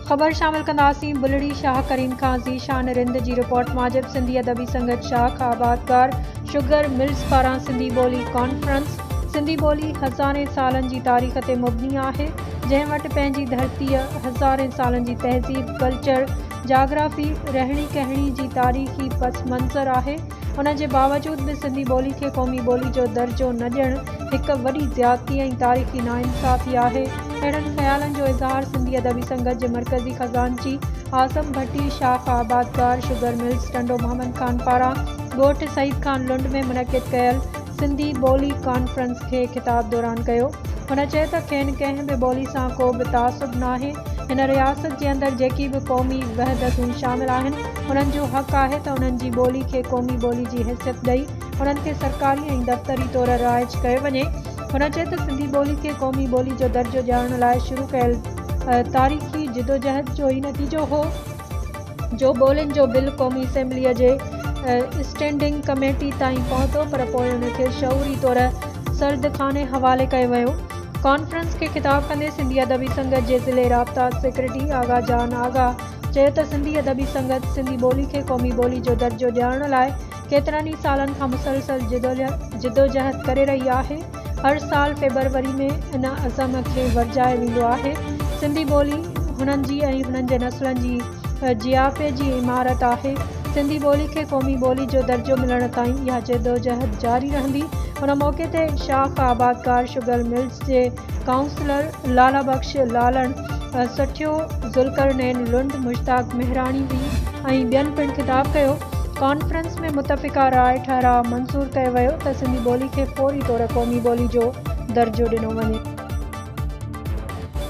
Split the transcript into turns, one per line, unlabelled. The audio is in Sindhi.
خبر شامل ڪنداسين بلڙي شاهه ڪريم خان ذيشان رند جي رپورٽ ماجب سنڌي ادبي سنگت شاخ آبادگار شگر ملز پاران سنڌي ٻولي ڪانفرنس سنڌي ٻولي هزارين سالن جي تاريخ تي مبني آهي جنهن وٽ پنهنجي ڌرتيء هزارين سالن جي تهذيب ڪلچر جاگرافي رهڻي ڪهڻي جي تاريخي پس منظر آهي ان جي باوجود به سنڌي ٻولي کي قومي ٻولي جو درجو نه ڏيڻ هڪ وڏي زيادتي ۽ تاريخي ناانصافي آهي. اهڙن خيالن جو اظهار سنڌي ادبي سنگت جي مرڪزي خزانچي اعظم ڀٽي شاخ آبادگار شگر ملز ٽنڊو محمد خان پاران ڳوٺ سعيد خان لنڊ ۾ منعقد ڪيل سنڌي ٻولي ڪانفرنس کي خطاب دوران ڪيو. هن چيو ته کين ڪنهن به ٻولي سان ڪو به تعصب ناهي. هن رياست جي اندر جيڪي به قومي وحدتون شامل آهن. انهن جو حق آهي ته انهن جي ٻولي کي قومي ٻولي جي حيثيت ڏئي انهن کي سرڪاري ۽ دفتري طور رائج ڪيو وڃي. هن چيو ته سنڌي ٻولي کي قومي ٻولي جو درجو ڏيارڻ لاء شروع ڪيل تاريخي جدوجهد جو ئي نتيجو هو جو ٻولين جو بل قومي اسيمبليء جي اسٽينڊنگ ڪميٽي تائين پهتو پر پوء ان کي شعوري طور سردخاني حوالي ڪيو ويو. ڪانفرنس کي خطاب ڪندي سنڌي ادبي سنگت جي ضلعي رابطا سيڪريٽري آغا جان آغا، چيو ته سنڌي ادبي سنگت سنڌي ٻولي کي قومي ٻولي جو درجو ڏيارڻ لاء ڪيترن ئي سالن کان مسلسل جدوجهد ڪري رهي آهي هر سال فيبروري ۾ ان عزم کي ورجايو ويندو آهي سنڌي ٻولي هنن جي ۽ هنن جي نسلن جي جياپي جي عمارت آهي سنڌي ٻولي کي قومي ٻولي جو درجو ملڻ تائين اها جدوجهد جاري رهندي ان موقعي تي شاخ آبادگار شگل ملز جي ڪائونسلر لالا بخش لالڻ سٺيو، ذوالقرنين لنڊ، مشتاق مهراڻي وي ۽ ٻين پڻ خطاب ڪيو. ڪانفرنس ۾ متفقه راء ٺهراء منظور ڪيو ويو ته سنڌي ٻولي کي فوري طور قومي ٻولي جو درجو ڏنو وڃي.